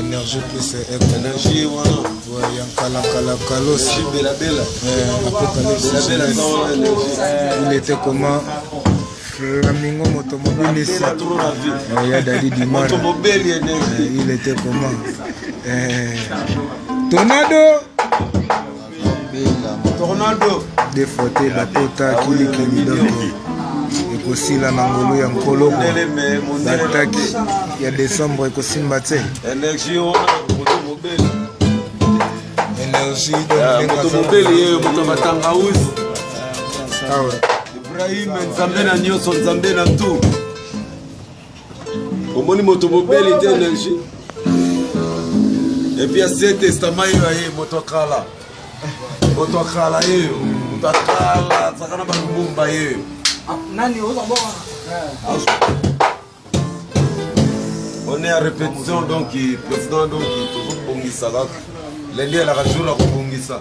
Energie plus Energie wana ouais, ya nkala nkala kalosi bela bela apocalypse bela bela il était comment flamingo moto mobelisi ya dadi dimara il était comment eh, tornado tornado defote bakota kilikili dongo ekosila na ngolu ya nkolo bataki ya desembre ekosimba te energie moto mobeli ye moto matangausi ibrahim nzambe na nyonso nzambe na tout omoni moto mobeli te energi epuis asie testament yo aye moto akala moto akala yeyo moto akala azaka na balumumba yeyo on est à répétition donc président donc tozobongisa kaka lendi elaka jour ya kobongisa